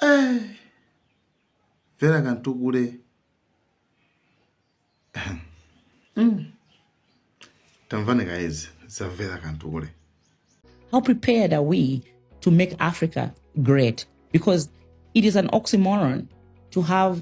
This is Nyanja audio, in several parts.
Eh, Vera Kantukule mm. tamvani guys za Vera Kantukule how prepared are we to make Africa great because it is an oxymoron to have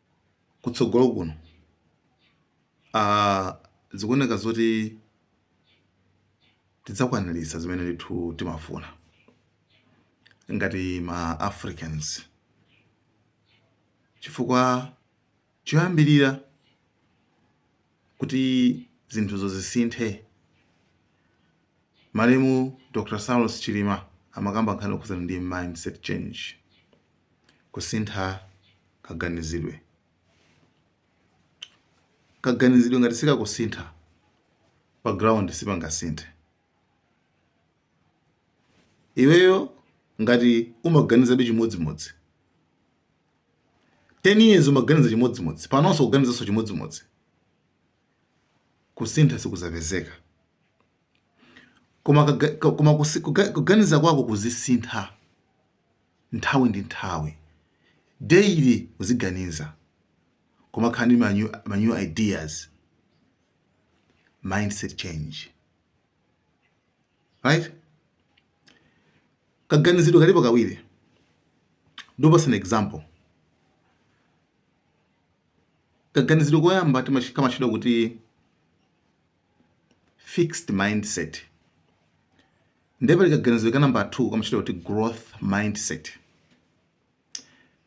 kutsogolo kuno ah, zikuoneka zoti tidzakwaniritsa zimene ndithu timafuna ngati ma Africans chifukwa choyambirira Kuti zinthuzo zisinthe, malemu Dr Saulos Chilima amakamba nkhani yokhudzana ndi mindset change, kusintha kaganizidwe. Kaganizidwe ngati sikakusintha, pa ground sipangasinthe. Iweyo ngati umaganizabe chimodzimodzi. 10 years umaganiza chimodzimodzi panonso kuganizanso chimodzimodzi kusintha sikuzapezeka koma, kaga- ka- koma kusi- kuga- kuganiza kwako kuzisintha nthawi ndi nthawi daily uziganiza koma kukhala ndi ma new, ma new ideas mindset change right kaganizidwe kalipo kawiri ndikupatsani example kaganizidwe koyamba kamatchedwa kuti fixed mindset nde pali kaganizidwe ka namba 2 kamatchedwa kuti growth mindset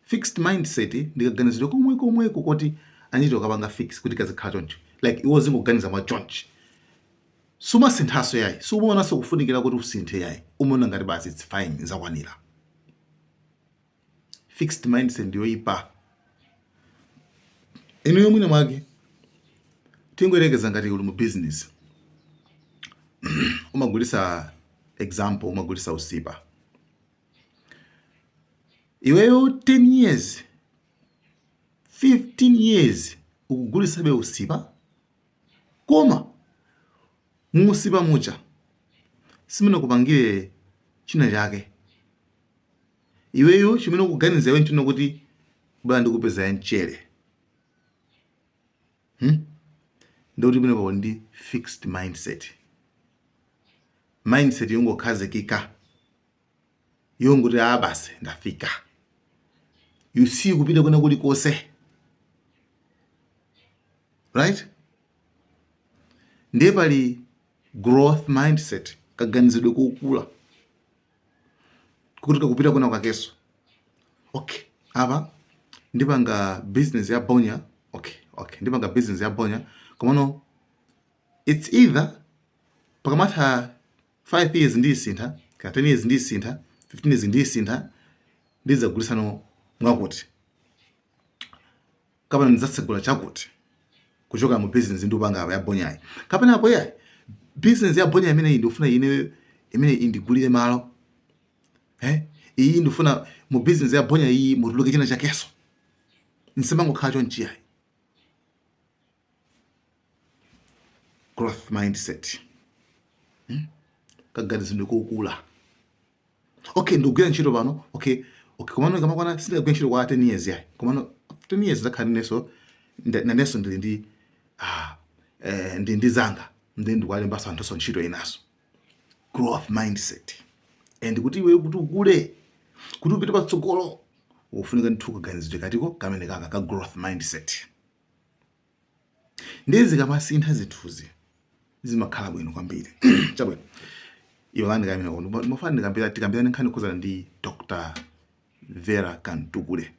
fixed mindset ndikaganizidwe komwe komweko koti anachita kukapanga fix kuti kazikhala choncho like iwe uzingoganiza mwa chonchi sumasinthaso yayi sumaonaso kufunikira kuti usinthe yayi umaona ngati basi it's fine zakwanira fixed mindset ndiyoyipa iyo mwina mwake tingoyerekeza ngati uli mu business umagulisa example umagulisa usipa iweyo 10 years 15 years ukugulisabe usipa koma muusipa muja simumene mukupangira china chake iweyo chimene ukuganiza iwe nchonena kuti bola ndikupeza ya mchere hmm? ndiye kuti imeneyo ndi fixed mindset mindset yongokhazikika yongoti a basi ndafika you see kupita kwina kulikonse right ndiye pali growth mindset kaganizidwe kokula kuti kakupita kwina kwakeso okay apa ndipanga business ya bonya okay okay ndipanga business ya bonya komano it's either pakamatha 5 years ndiyisintha kaya 10 years ndiyisintha 15 years ndiyisintha ndidzagulitsano mwakuti kapena ndidzatsegula chakuti kuchoka mu business ndikupanga pa ya bonyayi kapena apo yayi business ya bonyayi imeneyi ndikufuna ine imene indigulire malo eh iyi ndifuna mu business ya bonya iyi mutuluke china chakeso ndisamangokhala chonchi yayi growth mindset hmm? kaganizidwe kokula okay ndikugwira ntchito pano okay okay komano kamakwana sindikagwira ntchito kwa 10 years yayi komano 10 years ndizakhala neneso nanenso ndili ndi ah, eh, ndi ndi zanga ndi ndikuwalembaso anthuso ntchito inaso growth mindset and kuti iwe kuti ukule kuti upite patsogolo ufunika ndithu kaganizidwe katiko kamene kaka ka growth mindset Ndiye zikamasintha zinthuzi zimakhala bwino kwambiri. Chabwino, iwalani kaye imeneyo. Ndipo ndimafuna ndikambira- tikambirane nkhani yokhudzana ndi Dr. Vera Kamtukule.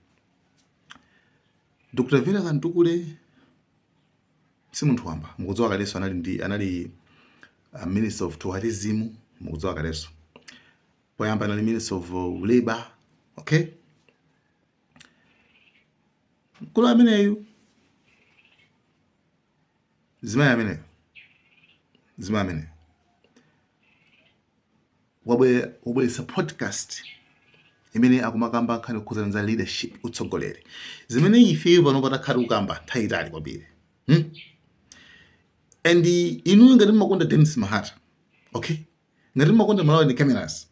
Dr. Vera Kamtukule si munthu wamba. Mukudziwa kalenso anali ndi anali uh, Minister of Tourism, mukudziwa kalenso. Poyamba anali Minister of uh, Labor, okay? mkulu ameneyu mzimayi ameneyo mzimayi ameneyo wabwe- wabweretsa podcast imene akumakamba nkhani yokhuzana za leadership utsogoleri zimene ifeyo pano pa takhala tikukamba nthawi yaitali kwambiri hmm? and inuyo ngati mumakonda denis mahata okay ngati mmakonda malawian cameras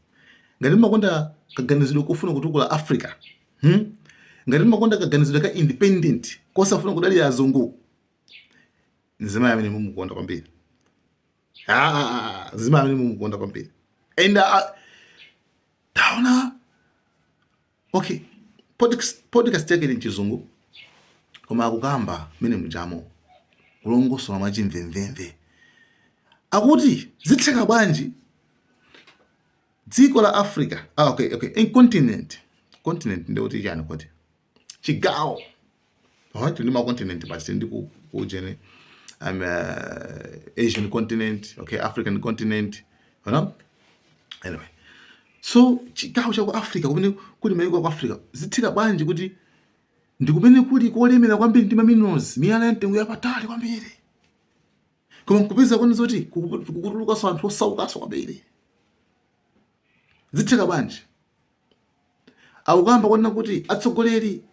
ngati mmakonda kaganizidwe kofuna kutukula africa hmm? ngati mmakonda kaganizidwe ka independent kosafuna kudalira azungu nzimayi amene mumukonda kwambiri nzimayi amene mumukonda kwambiri and uh, taona Okay, podcast, podcast yake ili mchizungu koma akukamba mene mjamo kulongosola mwa chimvemvemve akuti zitheka bwanji dziko la Africa ah, okay, okay. In continent continent ndiye kuti chani kuti chigawo Alright, tili ndi makontinenti basi ndi ku ujeni um, uh, Asian continent, okay, African continent, you know? Anyway, so chigawo cha ku Africa kumene kuli mayiko a ku Africa zitheka bwanji kuti ndi kumene kuli kolemera kwambiri ndi maminerals, miyala ya mtengo wapatali kwambiri, koma nkupezeka kuti zoti kukutulukanso anthu osaukanso kwambiri, zitheka bwanji? akukamba kwanena kuti atsogoleri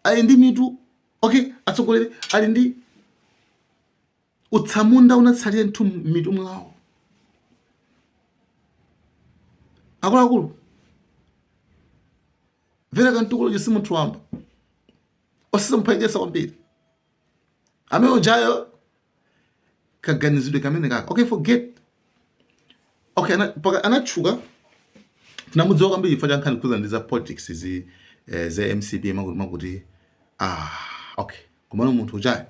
ali ndi mitu okay atsogoleri ali ndi utsamunda unatsalira m'mitu mwawo akuluakulu Vera Kamtukule si munthu wamba osazamuphwekesa kwambiri amene ujayo kaganizidwe kamene kaka okay forget okay anatchuka tinamudziwa kwambiri chifukwa cha nkhani zokhudzana ndi za politics zi eh, za mcp chakuti chakuti ah okay komano munthu ujayo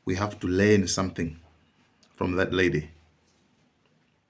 we have to learn something from that lady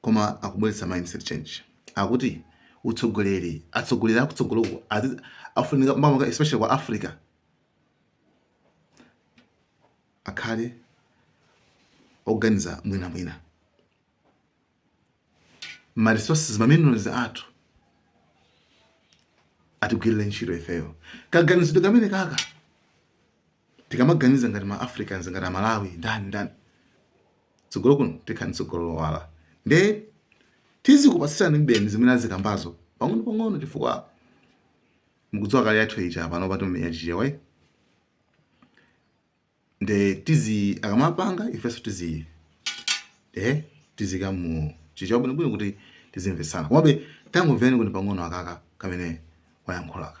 koma akubweretsa mindset change akuti utsogoleri atsogoleri akutsogoloku afunika maka especially kwa africa akhale oganiza mwina mwina ma resources ma minerals athu atigwirire ntchito ifeyo kaganizidwe kamene kaka tikamaganiza ngati ma Africans ngati amalawi ndani ndani tsogolo kuno tikhala ndi tsogolo lowala nde tizikupatsirani mbali zimene azikambazo pang'ono pang'ono chifukwa mukudziwa kale yathu ija pano timamenya chichewa eh? nde tizi akamapanga ifenso tizi eh tiziika mu chichewa bwino bwino kuti tizimvetsana komabe tangomvani kuti pang'ono kaka kamene wayankhulaka